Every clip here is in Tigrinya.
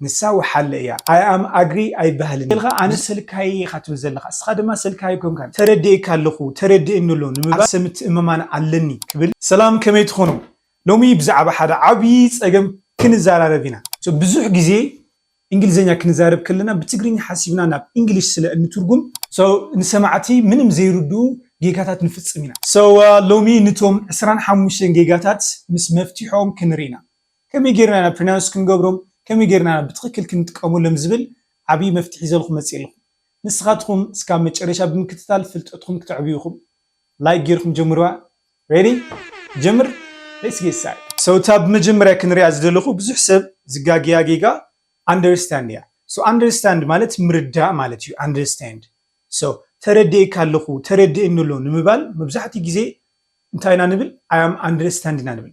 ንሳ ወሓለ እያ I am agree ኣይበሃልን እዩ ኢልካ ኣነ ሰልካይይ ኢኻ ትብል ዘለኻ እስኻ ድማ ሰልካይ ኣይኮንካን ተረዲኤካ ኣለኹ ተረዲእኒ ኣሎ ንምባል ሰብ ምትእምማን ኣለኒ ክብል ሰላም ከመይ ትኾኑ ሎሚ ብዛዕባ ሓደ ዓብይ ፀገም ክንዛራረብ ኢና። So ብዙሕ ግዜ እንግሊዘኛ ክንዛረብ ከለና ብትግርኛ ሓሲብና ናብ እንግሊሽ ስለ እንትርጉም። So ንሰማዕቲ ምንም ዘይርድኡ ጌጋታት ንፍፅም ኢና። So ሎሚ ንቶም ዕስራን ሓሙሽተን ጌጋታት ምስ መፍትሕኦም ክንርኢ ኢና። ከመይ ጌርና ኢና ፕሪናውንስ ክንገብሮም ከመይ ጌርና ኢና ብትኽክል ክንጥቀመሎም ዝብል ዓብይ መፍትሒ ሒዘልኩም መፅየ ኣለኹ ንስኻትኹም እስካብ መጨረሻ ብምክትታል ፍልጠትኹም ክተዕብዩ ኢኹም ላይክ ጌርኩም ጀምርዋ Ready ጀምር Let's get started So እታ ብመጀመርያ ክንሪኣ ዝደለኹ ብዙሕ ሰብ ዝጋገያ ጌጋ Understand እያ So Understand ማለት ምርዳእ ማለት እዩ Understand So ተረዲኤካ ኣለኹ ተረድኤኒ ኣሎ ንምባል መብዛሕትኡ ግዜ እንታይ ኢና ንብል I am understand ኢና ንብል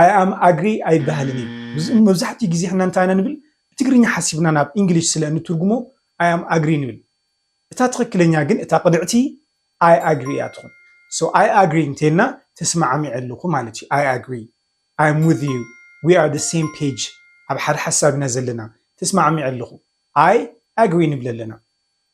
ኣይ ኣም ኣግሪ ኣይበሃልን እዩ። መብዛሕትኡ ግዜ ሕና እንታይ ኢና ንብል ብትግርኛ ሓሲብና ናብ ኢንግሊሽ ስለ እንትርጉሞ ኣይ ኣም ኣግሪ ንብል። እታ ትኽክለኛ ግን እታ ቅድዕቲ ኣይ ኣግሪ እያ ትኹን። ሶ ኣይ ኣግሪ እንተይልና ተስማዓሚዐ ኣለኹ ማለት እዩ። ኣይ ኣግሪ፣ ኣይ ኣም ዊዝ ዩ፣ ዊ ኣር ዘ ሴም ፔጅ፣ ኣብ ሓደ ሓሳብ ኢና ዘለና፣ ተስማዓሚዐ ኣለኹ፣ ኣይ ኣግሪ ንብል ኣለና።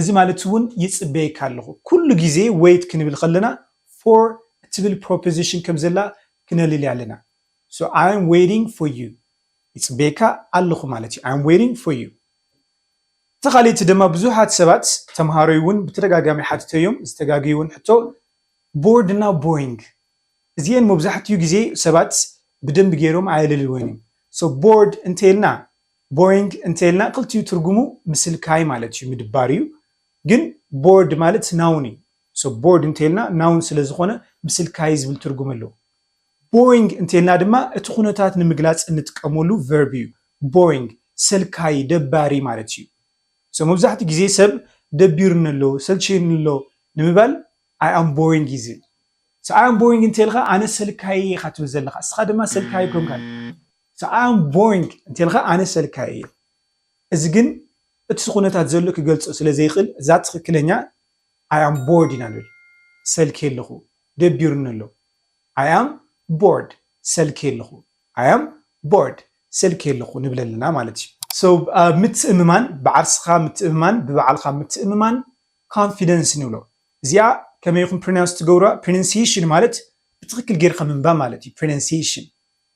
እዚ ማለት እውን ይጽበየካ ኣለኹ። ኩሉ ግዜ wait ክንብል ከለና for እትብል ፕሮፖዚሽን ከም ዘላ ክነልሊ ኣለና። So I'm waiting for you ይጽበየካ ኣለኹ ማለት እዩ። I'm waiting for you። እቲ ካልእቲ ደማ ብዙሓት ሰባት ተምሃሮይ እውን ብተደጋጋሚ ሓቲተዮም ዝተጋገዩውን ሕቶ bored እና boring እዚኤን መብዛሕትኡ ግዜ ሰባት ብደንቢ ገይሮም ኣየለልወን እዮም። So bored እንተይልና ቦይንግ እንተይልና ክልቲኡ ትርጉሙ ምስልካይ ማለት እዩ ምድባር እዩ ግን ቦርድ ማለት ናውን እዩ ሶ ቦርድ እንተይልና ናውን ስለ ዝኾነ ምስልካይ ዝብል ትርጉም ኣለዎ ቦይንግ እንተይልና ድማ እቲ ኩነታት ንምግላፅ እንጥቀመሉ ቨርብ እዩ ቦይንግ ሰልካይ ደባሪ ማለት እዩ ሶ መብዛሕትኡ ግዜ ሰብ ደቢሩኒ ኣሎ ሰልችዩኒ ኣሎ ንምባል ኣይ ኣም ቦይንግ እዩ ዝብል ሶ ኣይ ኣም ቦይንግ እንተይልካ ኣነ ሰልካይ እየ ኢኻ ትብል ዘለኻ እስኻ ድማ ሰልካይ ኣይኮንካን ሰዓም ቦይንግ እንተልካ ኣነ ሰልካይ እየ እዚ ግን እቲ ኩነታት ዘሎ ክገልጾ ስለ ዘይክእል እዛ ትክክለኛ ኣይ ኣም ቦርድ ኢና ንብል ሰልክየ ኣለኩ ደቢሩኒ ኣሎ ኣይ ኣም ቦርድ ሰልክየ ኣለኩ ኣይ ኣም ቦርድ ሰልክየ ኣለኩ ንብል ኣለና ማለት እዩ so ምትእምማን ብዓርስካ ምትእምማን ብባዕልካ ምትእምማን confidence ንብሎ እዚኣ ከመይ ኢኩም ፕሪናንስ ትገብሩዋ ፕሪነንስይሽን ማለት ብትክክል ጌርካ ምንባብ ማለት እዩ ፕሪነንስይሽን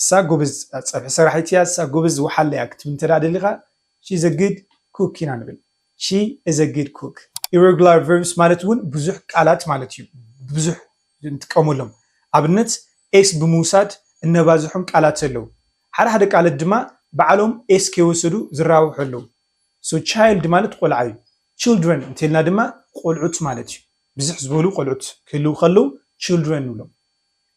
እሳ ጎበዝ ፀብሒ ሰራሒት እያ እሳ ጎበዝ ወሓለ እያ ክትብል እንተ ደሊኻ ሺ ኢዘ ግድ ኩክ ኢና ንብል ሺ ኢዘ ግድ ኩክ። ኢረጉላር ቨርብስ ማለት እውን ብዙሕ ቃላት ማለት እዩ ብዙሕ ንጥቀመሎም ኣብነት ኤስ ብምውሳድ እነባዝሖም ቃላት ኣለው ሓደ ሓደ ቃለት ድማ ባዕሎም ኤስ ከይወሰዱ ዝራብሑ ኣለው ሶ ቻይልድ ማለት ቆልዓ እዩ ችልድረን እንተልና ድማ ቆልዑት ማለት እዩ ብዝሕ ዝበሉ ቆልዑት ክህልው ከለው ችልድረን ንብሎም።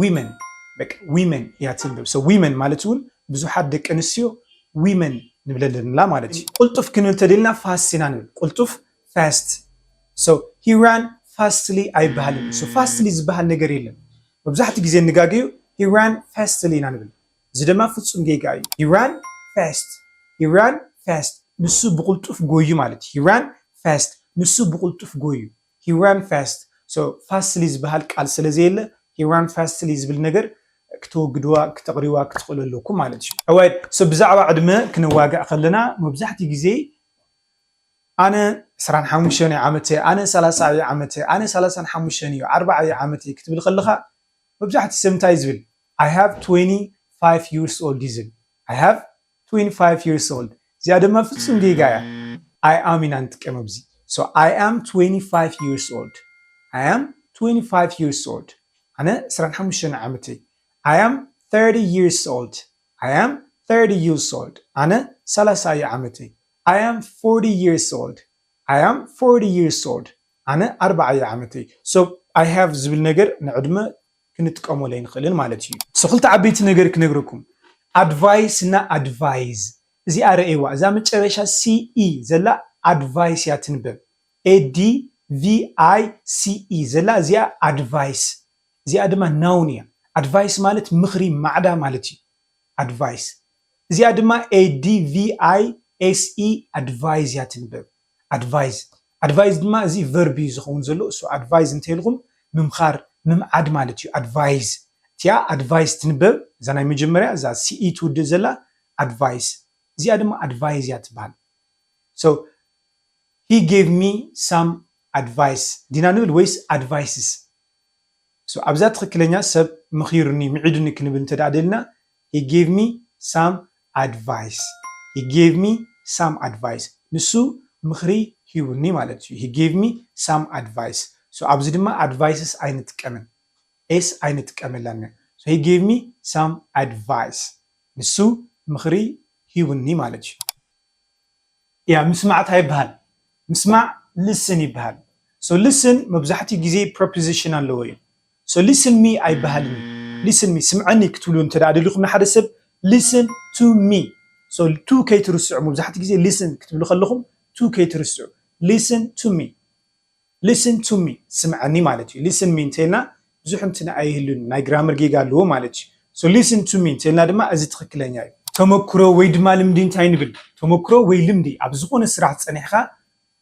ዊመን በቃ ዊመን እያ ትንብብ ሰ ዊመን ማለት እውን ብዙሓት ደቂ ኣንስትዮ ዊመን ንብለለንላ ማለት እዩ ቁልጡፍ ክንብል ተደልና ፋስት ኢና ንብል ቁልጡፍ ፋስት ሰ ሂራን ፋስትሊ ኣይበሃልን ሰ ፋስትሊ ዝበሃል ነገር የለን መብዛሕትኡ ግዜ እንጋገዩ ሂራን ፋስትሊ ኢና ንብል እዚ ደማ ፍፁም ጌጋ እዩ ሂራን ፋስት ሂራን ፋስት ንሱ ብቁልጡፍ ጎዩ ማለት እዩ ሂራን ፋስት ንሱ ብቁልጡፍ ጎዩ ሂ ራን ፋስት ሶ ፋስትሊ ዝበሃል ቃል ስለ ዘየለ ሂ ራን ፋስትሊ ዝብል ነገር ክተወግድዋ ክተቕርይዋ ክትኽእሉ ኣለኩም ማለት እዩ። ኦራይት ሶ ብዛዕባ ዕድመ ክነዋግዕ ከለና መብዛሕትኡ ግዜ ኣነ ዕስራን ሓሙሽተን እየ ዓመት እየ ኣነ ሰላሳ እየ ዓመት እየ ኣነ ሰላሳን ሓሙሽተን እዩ ኣርባዓ እየ ዓመት እየ ክትብል ከለኻ መብዛሕትኡ ሰብ እንታይ እዩ ዝብል ኣይ ሃቭ ትወኒ ፋይቭ ይርስ ኦልድ እዩ ዝብል ኣይ ሃቭ ትዊንቲ ፋይፍ ይርስ ኦልድ እዚኣ ድማ ፍጹም ጌጋ እያ ኣይ ኣም ኢና ንጥቀም ኣብዚ ሶ ኣይ ኣም ትዊንቲ ፋይፍ ይርስ ኦልድ ኣይ ኣም ትዊንቲ ፋይፍ ይርስ ኦልድ ኣነ ዕስራን ሓሙሽተን ዓመተይ ኣይ ኣም ተርቲ ይርስ ኦልድ ኣይ ኣም ተርቲ ይርስ ኦልድ ኣነ ሰላሳ እዩ ዓመተይ ኣይ ኣም ፎርቲ ይርስ ኦልድ ኣይ ኣም ፎርቲ ይርስ ኦልድ ኣነ ኣርባዓ እዩ ዓመተይ ሶ ኣይ ሃቭ ዝብል ነገር ንዕድመ ክንጥቀመሉ ኣይንኽእልን ማለት እዩ። ሶ ክልተ ዓበይቲ ነገር ክነግረኩም ኣድቫይስ እና ኣድቫይዝ እዚኣ ረኤዋ እዛ መጨረሻ CE ዘላ ኣድቫይስ እያ ትንበብ ADVICE ዘላ እዚኣ ኣድቫይስ እዚኣ ድማ ናውን እያ ኣድቫይስ ማለት ምኽሪ ማዕዳ ማለት እዩ ኣድቫይስ እዚኣ ድማ ADVISE ኣድቫይዝ እያ ትንበብ። ኣድቫይዝ ኣድቫይዝ ድማ እዚ ቨርብ እዩ ዝኸውን ዘሎ እሱ ኣድቫይዝ እንተይልኹም ምምኻር ምምዓድ ማለት እዩ ኣድቫይዝ እቲኣ ኣድቫይስ ትንበብ እዛ ናይ መጀመርያ እዛ ሲኢ ትውድእ ዘላ ኣድቫይስ እዚኣ ድማ ኣድቫይዝ እያ ትበሃል so he gave me some advice ዲና ንብል ወይስ advices so ኣብዛ ትኽክለኛ ሰብ መኺሩኒ ምዒዱኒ ክንብል እንተ ደኣ ደልና ሂ ጌቭ ሚ ሳም ኣድቫይስ ሂ ጌቭ ሚ ሳም ኣድቫይስ ንሱ ምኽሪ ሂቡኒ ማለት እዩ ሂ ጌቭ ሚ ሳም ኣድቫይስ ሶ ኣብዚ ድማ ኣድቫይስስ ኣይንጥቀምን ኤስ ኣይንጥቀመላን ኢና ሶ ሂ ጌቭ ሚ ሳም ኣድቫይስ ንሱ ምኽሪ ሂቡኒ ማለት እዩ ያ ምስማዕ ታይ ይበሃል ምስማዕ listen ይበሃል ሶ listen መብዛሕትኡ ግዜ ፕረፕዚሽን ኣለዎ እዩ so listen me ኣይበሃልን እዩ listen me ስምዐኒ ክትብሉ እንተድኣ ደሊኹም ንሓደ ሰብ listen to me so to ከይትርስዑ መብዛሕትኡ ግዜ listen ክትብሉ ከለኹም to ከይትርስዑ listen to me listen to me ስምዐኒ ማለት እዩ listen me እንተይልና ብዙሕ እንትን ኣይህሉን ናይ ግራመር ጌጋ ኣለዎ ማለት እዩ so listen to me እንተይልና ድማ እዚ ትኽክለኛ እዩ ተመክሮ ወይ ድማ ልምዲ እንታይ ንብል ተመክሮ ወይ ልምዲ ኣብ ዝኾነ ስራሕ ፀኒሕኻ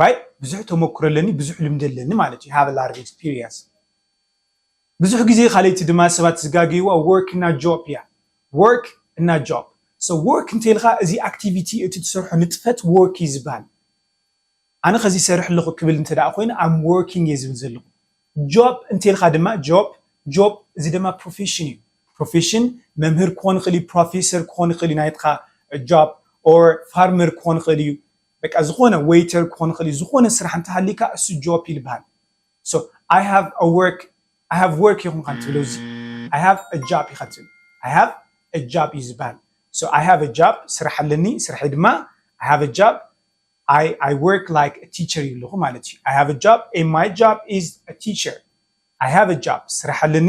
ራይት ብዙሕ ተመኩሮ ኣለኒ ብዙሕ ልምዲ ኣለኒ ማለት ዩ ሃቭ ላርጅ ኤክስፒሪየንስ ብዙሕ ግዜ ካልይቲ ድማ ሰባት ዝጋገይዋ ወርክ እና ጆፕ እያ ወርክ እና ጆፕ ሶ ወርክ እንተልካ እዚ ኣክቲቪቲ እቲ ትሰርሖ ንጥፈት ወርክ እዩ ዝበሃል ኣነ ከዚ ይሰርሕ ኣለኹ ክብል እንተ ደኣ ኮይኑ ኣም ወርኪንግ እየ ዝብል ዘለኹ ጆፕ እንተልካ ድማ ጆፕ ጆፕ እዚ ድማ ፕሮፌሽን እዩ ፕሮፌሽን መምህር ክኾን ይኽእል እዩ ፕሮፌሰር ክኾን ይኽእል እዩ ናይትካ ጆፕ ኦር ፋርመር ክኾን ይኽእል እዩ በቃ ዝኾነ ወይተር ክኾን ይኽእል እዩ ዝኾነ ስራሕ እንተሃሊካ እሱ ጆፕ እዩ ልበሃል ሶ ኣይ ሃቭ አ ወርክ ኣይ ሃቭ ወርክ ይኹን ካብ ትብሎ እዚ ኣይ ሃቭ አ ጃፕ ኢኻ ትብል ኣይ ሃቭ አ ጃፕ እዩ ዝበሃል ሶ ኣይ ሃቭ አ ጃፕ ስራሕ ኣለኒ ስርሐይ ድማ ኣይ ሃቭ አ ጃፕ ኣይ ኣይ ወርክ ላይክ አ ቲቸር እዩ ኣለኹ ማለት እዩ ኣይ ሃቭ አ ጃፕ ኤንድ ማይ ጃፕ ኢዝ አ ቲቸር ኣይ ሃቭ አ ጃፕ ስራሕ ኣለኒ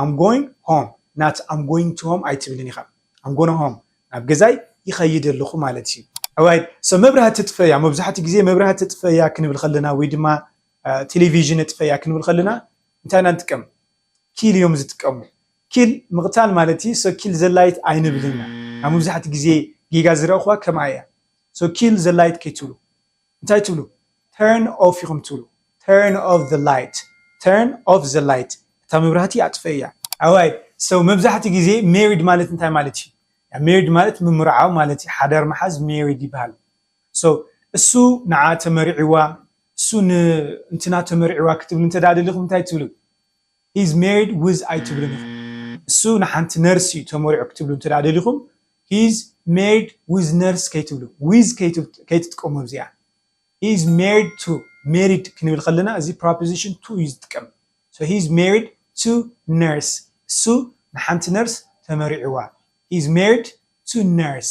ኣም ጎይንግ ሆም ናት ኣም ጎይንግ ቱ ሆም ኣይትብልን ኢኻ ኣም ጎይንግ ሆም ናብ ገዛይ ይኸይድ ኣለኹ ማለት እዩ። ኦራይት ሶ መብራህቲ እጥፈያ መብዛሕትኡ ግዜ መብራህቲ እጥፈያ ክንብል ከለና ወይ ድማ ቴሌቪዥን እጥፈያ ክንብል ከለና እንታይ ኢና ንጥቀም ኪል እዮም ዝጥቀሙ ኪል ምቕታል ማለት እዩ ሶ ኪል ዘላይት ኣይንብልን ኢና ኣብ መብዛሕትኡ ግዜ ጌጋ ዝረእኹዋ ከምኣ እያ ሶ ኪል ዘላይት ከይትብሉ እንታይ ትብሉ turn off ኢኹም ትብሉ turn off the light turn off the light እታ መብራህቲ ኣጥፍእያ ኣዋይ so መብዛሕትኡ ግዜ married ማለት እንታይ ማለት እዩ married ማለት ምምርዓው ማለት እዩ ሓዳር ምሓዝ married ይበሃል so እሱ ንዓ ተመሪዕዋ እሱ ንእንትና ተመሪዕዋ ክትብሉ እንተ ደሊኹም እንታይ ትብሉ ሂዝ ሜሪድ ውዝ ኣይትብሉን ኢኹም እሱ ንሓንቲ ነርስ እዩ ተመሪዑ ክትብሉ እንተድኣ ደሊኹም ሂዝ ሜሪድ ውዝ ነርስ ከይትብሉ ዊዝ ከይትጥቀሙ ኣብዚኣ ሂዝ ሜሪድ ቱ ሜሪድ ክንብል ከለና እዚ ፕሮፖዚሽን ቱ እዩ ዝጥቀም ሶ ሂዝ ሜሪድ ቱ ነርስ እሱ ንሓንቲ ነርስ ተመሪዕዋ ሂዝ ሜሪድ ቱ ነርስ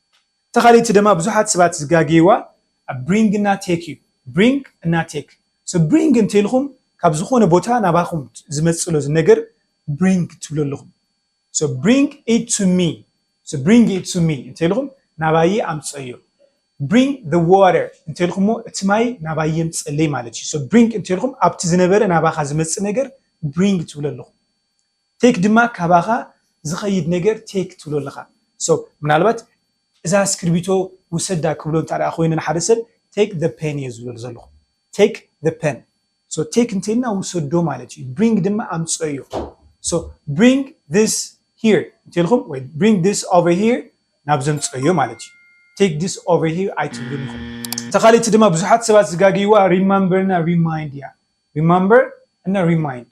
እታ ካልእቲ ደማ ብዙሓት ስባት ዝጋግይዋ ኣብ ብሪንግ እና ቴክ እዩ ብሪንግ እና ቴክ so ብሪንግ እንተኢልኩም ካብ ዝኮነ ቦታ ናባኩም ዝመጽእሎ ዝነገር ብሪንግ ትብሉ ኣለኩም so ብሪንግ ኢት ቱ ሚ so ብሪንግ ኢት ቱ ሚ እንተኢልኩም ናባይ ኣምጽእዮ ብሪንግ the water እንተኢልኩሞ እቲ ማይ ናባይ የምጽእለይ ማለት እዩ so ብሪንግ እንተኢልኩም ኣብቲ ዝነበረ ናባካ ዝመጽእ ነገር ብሪንግ ትብሉ ኣለኩም ቴክ ድማ ካባኻ ዝኸይድ ነገር ቴክ ትብሎ ኣለኻ so ምናልባት እዛ እስክርቢቶ ውሰዳ ክብሎ እንተድኣ ኮይነ ንሓደ ሰብ take the pen እየ ዝብሎ ዘለኹ take the pen so take እንተይልና ውሰዶ ማለት እዩ bring ድማ ኣምፅኦ እዩ so bring this here እንተይልኹም ወይ bring this over here ናብ ዘምፅኦዮ ማለት እዩ take this over here ኣይትብሉን ኢኹም እታ ካልእቲ ድማ ብዙሓት ሰባት ዝጋግይዋ ሪማምበር እና ሪማይንድ እያ ሪማምበር እና ሪማይንድ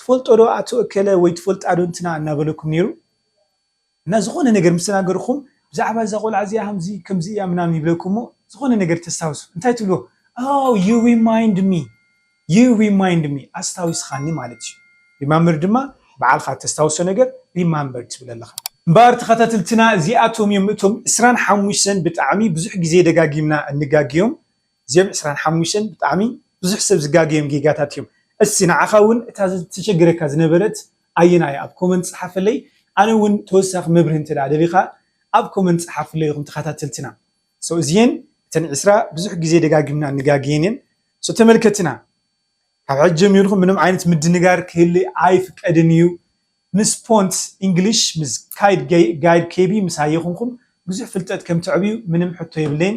ትፈልጦ ዶ ኣቶ እከለ ወይ ትፈልጣ ዶ እንትና እናበለኩም ነይሩ እና ዝኾነ ነገር ምስ ተናገርኹም ብዛዕባ እዛ ቆልዓ እዚኣ ሃምዚ ከምዚ እያ ምናምን ይብለኩም እሞ ዝኾነ ነገር ተስታውሱ እንታይ ትብልዎ ኣው ዩ ሪማይንድ ሚ ዩ ሪማይንድ ሚ ኣስታዊስኻኒ ማለት እዩ ሪማምበር ድማ ባዕልኻ ተስታውሶ ነገር ሪማምበር ትብል ኣለኻ እምበኣር ተኸታተልትና እዚኣቶም እዮም እቶም ዕስራን ሓሙሽተን ብጣዕሚ ብዙሕ ግዜ ደጋጊምና እንጋግዮም እዚኦም ዕስራን ሓሙሽተን ብጣዕሚ ብዙሕ ሰብ ዝጋገዮም ጌጋታት እዮም። እስቲ ንዓኻ ውን እታ ተቸግረካ ዝነበረት ኣየናይ እያ ኣብ ኮመንት ጽሓፈለይ ኣነ ውን ተወሳኺ መብርሂ እንተ ደሊኻ ኣብ ኮመንት ጽሓፍለይ ኢኹም ተኸታተልትና so እዚኤን እተን ዕስራ ብዙሕ ግዜ ደጋጊምና ንጋገየን እየን so ተመልከትና ካብ ሕጂ ጀሚርኩም ምንም ዓይነት ምድንጋር ክህሊ ኣይፍቀድን እዩ ምስ ፖንት ኢንግሊሽ ምስ ካይድ ጋይድ ኬቢ ምስ ሃየኹንኩም ብዙሕ ፍልጠት ከም ተዕብዩ ምንም ሕቶ የብለይን